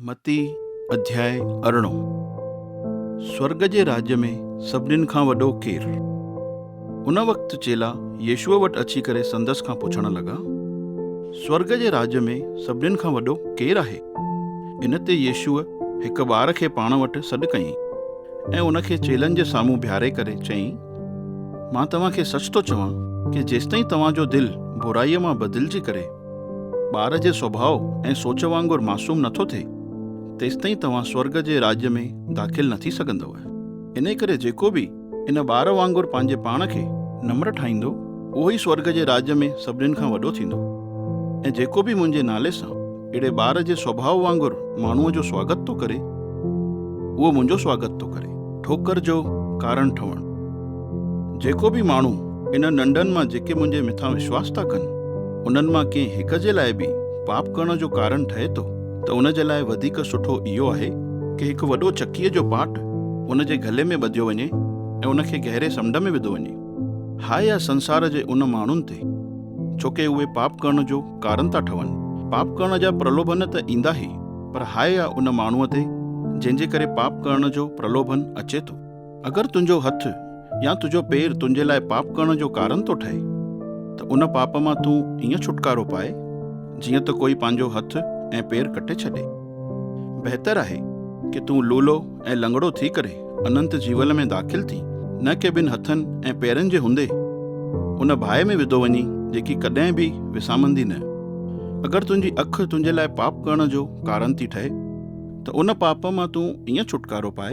متي اڌياء ارڙهون سورڳ جي راڄ ۾ سڀنين کان وڏو ڪير؟ ان وقت چيلا يسوع وٽ اچي ڪري سندس کان پڇڻ لڳا، سورڳ جي راڄ ۾ سڀنين کان وڏو ڪير آهي؟ ان تي يسوع هڪ ٻار کي پاڻ وٽ سڏ ڪيائين ۽ ان کي چيلن جي سامهون بيهاري ڪري چيائين، مان توهان کي سچ ٿو چوان ڪي جيستائين توهان جو دل برائيء مان بدلجي ڪري، ٻار جي سڀاء ۽ سوچ وانگر معصوم نٿو ٿئي، تيستائين توهان سورڳ جي راڄ ۾ داخل نه ٿي سگهندؤ. انهيء ڪري جيڪو به ان ٻار وانگر پنهنجي پاڻ کي نمر ٺاهيندو، اهو ئي سورڳ جي راڄ ۾ سڀنين کان وڏو ٿيندو. ۽ جيڪو به منهنجي نالي سان اهڙي ٻار جي سڀاء وانگر ماڻهوء جو سواگت ٿو ڪري، اهو منهنجو سواگت ٿو ڪري. ٺوڪر جو ڪارڻ ٺهڻ. جيڪو به ماڻهو انهن ننڊن مان جيڪي منهنجي مٿان وشواس ٿا ڪن، انهن مان ڪنهن هڪ جي لاء به پاپ ڪرڻ جو ڪارڻ ٺهي ٿو ته ان جي لاء وڌيڪ سٺو اهو آهي ڪه هڪ وڏو چڪيء جو پاٽ ان جي گلي ۾ ٻڌيو وڃي ۽ ان کي گهري سمنڊ ۾ وڌو وڃي. هاء آ سنسار جي ان ماڻهن تي، ڇو ڪه اهي پاپ ڪرڻ جو ڪارڻ ٿا ٺهن. پاپ ڪرڻ جا پرلوڀن ته ايندا ئي، پر هاء آ ان ماڻهوء تي جنهن جي ڪري پاپ ڪرڻ جو پرلوڀن اچي ٿو. اگر تنهنجو هٿ يا تنهنجو پير تنهنجي لاء پاپ ڪرڻ جو ڪارن ٿو ٺهي ته ان پاپ مان تون ائين ڇوٽڪارو پاء جيئن ته ڪوئي پنهنجو هٿ ۽ پير ڪٽي ڇڏي. بهتر آهي ڪي تون لولو ۽ لنگڙو ٿي ڪري اننت جيول ۾ داخل ٿين نه ڪي ٻن هٿن ۽ پيرن جي هوندي ان ڀائي ۾ وڌو وڃين جيڪي ڪڏهن به وسامندي نه. اگر تنهنجي اک تنهنجي لاء پاپ ڪرڻ جو ڪارن ٿي ٺهي. ته ان پاپ مان تون ائين ڇوٽڪارو پاء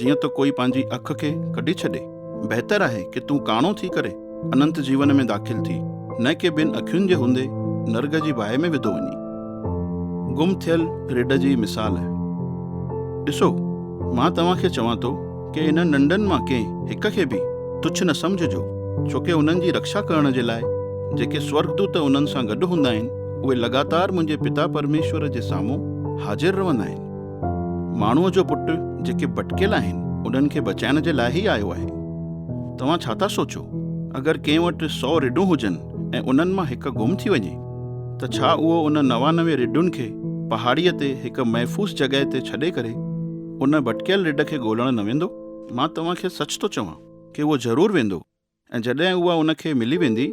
جيئن ته ڪوئي پنهنجي اک کي ڪڍي ڇڏي. بهتر آهي ڪي تون ڪاڻو ٿي ڪري اننت جيون ۾ داخل ٿي نه ڪي ٻن اکين جي هوندي نرڳ جي باهه ۾ وڌو وڃي. گم ٿيل رڍ جي مثال. ڏسو مان توهان کي چوان ٿو. ڪي انهن ننڊن مان ڪنهن هڪ کي به تڇ نه سمجهجو، ڇوڪه انهن جي رڪشا ڪرڻ جي لاء جيڪي سورڳدوت انهن سان گڏ هوندا آهن، اهي لڳاتار منهنجي پتا پرميشور جي سامهون حاضر رهندا آهن. ماڻهوء جو پٽ جيڪي ڀٽڪيل آهن، انهن کي بچائڻ جي لاء ئي آيو آهي. توهان ڇا ٿا سوچو؟ اگر ڪنهن وٽ سؤ رڍون هجن ۽ انهن مان هڪ گم ٿي وڃي، ته ڇا اهو ان نوانوي رڍن کي پهاڙيء تي هڪ محفوظ جڳهه تي ڇڏي ڪري، ان ڀٽڪيل رڍ کي ڳولڻ نه ويندو؟ مان توهان کي سچ ٿو چوان ڪي اهو ضرور ويندو ۽ جڏهن اها ان کي ملي ويندي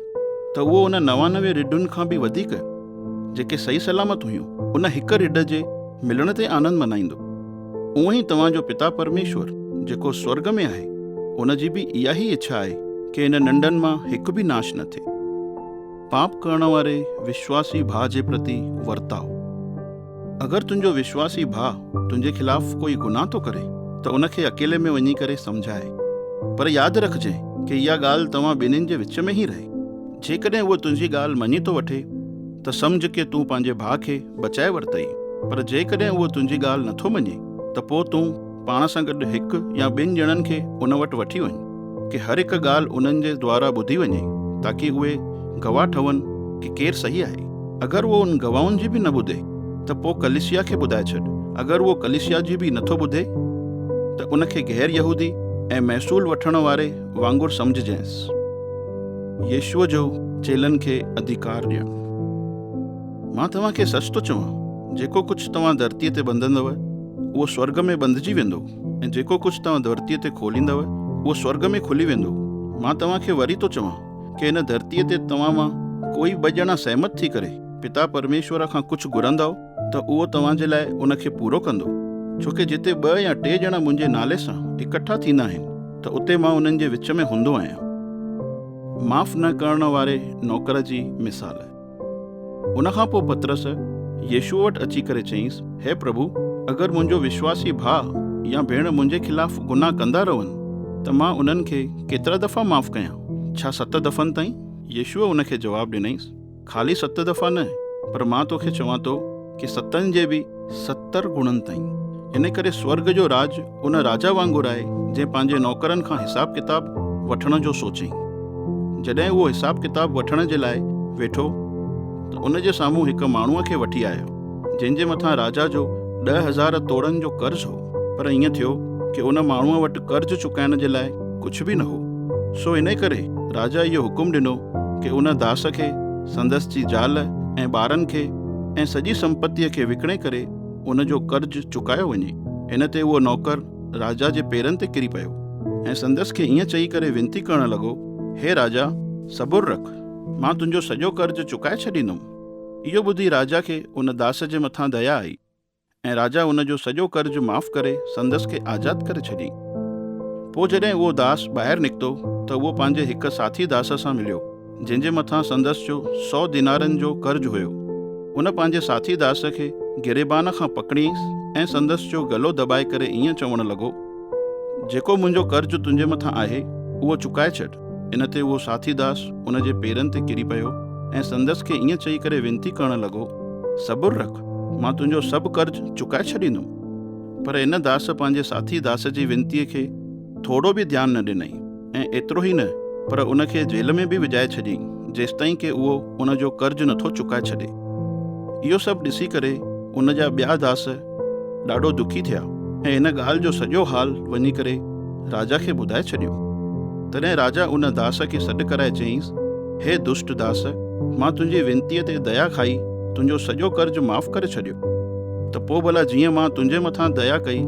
ته اهو ان نوانوي رڍن کان به وڌيڪ جيڪي صحيح سلامت هيون ان هڪ رڍ جي ملڻ تي آنند منائيندو. اونء ئي توهان جو پتا پرميشور جيڪو سورڳ ۾ آهي ان جي به اها ئي اڇا آهي ڪي ان ننڍن مان هڪ به ناش نه ٿئي. پاپ ڪرڻ واري وشواسي ڀاء جي پرتي ورتاء. اگر تنهنجو وشواسي ڀاء تنهنجي خلاف ڪوئي گناهه ٿو ڪري ته ان کي اڪيلي ۾ وڃي ڪري سمجهاء. پر ياد رکجانء ڪي اها ڳالهه توهان ٻنهين جي وچ ۾ ئي رهي. جيڪڏهن اهو تنهنجي ڳالهه مڃي ٿو وٺي ته سمجهه ڪي تون پنهنجي ڀاء کي بچائي ورتئي، پر جيڪڏهن اهو تنهنجي ڳالهه نٿو مڃي ته پوء تون، پاڻ سان گڏ هڪ يا ٻن ڄڻن کي ان وٽ وٺي وڃ ڪي هر هڪ ڳالهه انهن جي دوارا ٻڌي وڃي تاڪي اهي گواهه ٺهن ڪي ڪير صحيح آهي. اگر اهو ان گواهن جي به نه ٻڌي ته پوء ڪليسيا کي ٻڌائي ڇڏ اگر اهو ڪليسيا جي به نٿو ٻڌي ته ان کي غير يهودي ۽ محصول وٺڻ واري وانگر سمجهجينس. يسوع جو چيلن کي اڌيڪار ڏيڻ. مان توهان کي سچ ٿو چوان جيڪو ڪجهه توهان ڌرتيء تي ٻنڌندؤ، اهو سورڳ ۾ ٻنڌجي ويندو ۽ جيڪو ڪجهه توهان ڌرتيء تي کوليندؤ، اهو سورڳ ۾ کلي ويندو. مان توهان کي وري ٿو چوان ڪي هن ڌرتيء تي توهان مان ڪوئي ٻه ڄڻا سهمت ٿي ڪري پتا پرميشور کان ڪجهه گهرندؤ ته اهو توهان جي لاء ان کي پورو ڪندو. ڇو ڪي جتي ٻه يا ٽي ڄڻا منهنجي نالي سان اڪٺا ٿيندا آهن ته اتي مان انهن جي وچ ۾ هوندو آهيان. معاف نه ڪرڻ واري نوڪر جي مثال. ان کان پوء پطرس يسوع وٽ اچي ڪري چيائينس، هي پرڀو، اگر منهنجو وشواسي ڀاء يا ڀيڻ منهنجي خلاف گناهه ڪندا رهن، ته مان انهن کي ڪيترا دفعا معاف ڪيان؟ ڇا ست دفعن تائين؟ يسوع ان کي جواب ڏنائينس، خالي ست دفعا نه، پر مان توکي چوان ٿو، ڪي ستن جي به ستر گڻن تائين. ان ڪري سورگ جو راڄ ان راجا وانگر آهي، جنهن پنهنجي نوڪرن کان حساب ڪتاب وٺڻ جو سوچيائين. جڏهن اهو حساب ڪتاب وٺڻ جي لاء ويٺو ته ان جي سامهون هڪ ماڻهوء کي وٺي آيو، جنهن جي مٿان راجا جو ڏهه هزار توڙن جو قرض هو. پر ائين ٿيو ڪي ان ماڻهوء وٽ قرض چڪائڻ جي لاء ڪجهه به نه هو، سو ان ڪري راجا اهو حڪم ڏنو ڪي ان داس کي، سندس جي زال ۽ ٻارن کي، ۽ سڄي سمپتيء کي وڪڻي ڪري ان جو قرض چڪايو وڃي. ان تي اهو نوڪر راجا جي پيرن تي ڪري پيو ۽ سندس کي ائين چئي ڪري وينتي ڪرڻ لڳو، هي راجا! صبر رک، مان تنهنجو سڄو قرض چڪائي ڇڏيندم. اهو ٻڌي راجا کي ان داس جي مٿان ديا آئي، ۽ راجا ان جو سڄو قرض معاف ڪري سندس کي آزاد ڪري ڇڏيائين. پوء جڏهن اهو داس ٻاهر نڪتو ته اهو پنهنجي هڪ ساٿي داس سان مليو، جنهن جي مٿان سندس جو سؤ دينارن جو قرض هيو. ان پنهنجي ساٿي داس کي گريبان کان پڪڙيائينس ۽ سندس جو ڳلو دٻائي ڪري ائين چوڻ لڳو، جيڪو منهنجو قرض تنهنجي مٿان آهي، اهو چڪائي ڇڏ. ان تي اهو ساٿي داس ان جي پيرن تي ڪري پيو ۽ سندس کي ائين چئي ڪري وينتي ڪرڻ لڳو، صبر رک، مان تنهنجو سڀ قرض چڪائي ڇڏيندم. پر ان داس پنهنجي ساٿي داس جي وينتيء کي ٿورو به ڌيان نه ڏنئي ۽ ايترو ئي نه پر ان کي جيل ۾ به وجهائي ڇڏيئي جيستائين ڪي اهو ان جو قرض نٿو چڪائي ڇڏي. اهو سڀ ڏسي ڪري ان جا ٻيا داس، ڏاڍو دکي ٿيا ۽ ان ڳالهه جو سڄو حال وڃي ڪري راجا کي ٻڌائي ڇڏيو. تڏهن راجا ان داس کي سڏ ڪرائي چيائينس، هي دشٽ داس، مان تنهنجي ونتيء تي ديا کائي تنهنجو سڄو قرض معاف ڪري ڇڏيو، ته پوء ڀلا جيئن مان تنهنجي مٿان ديا ڪئي،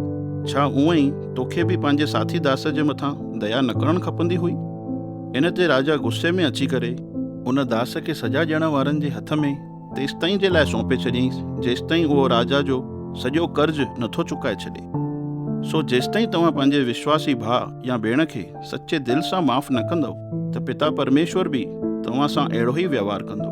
ڇا اونء ئي توکي به پنهنجي ساٿي داس جي مٿان ديا نه ڪرڻ کپندي هئي؟ ان تي راجا غصي ۾ اچي ڪري ان داس کي سزا ڏيڻ وارن جي هٿ ۾. تيستائين جي لاء سونپي ڇڏيائينس جيستائين اهو راجا جو سڄو قرض نٿو چڪائي ڇڏي. سو جيستائين توهان پنهنجي وشواسي ڀاء يا ڀيڻ کي سچي دل سان معاف نه ڪندؤ ته پتا پرميشور به توهان سان اهڙو ئي وهنوار ڪندو.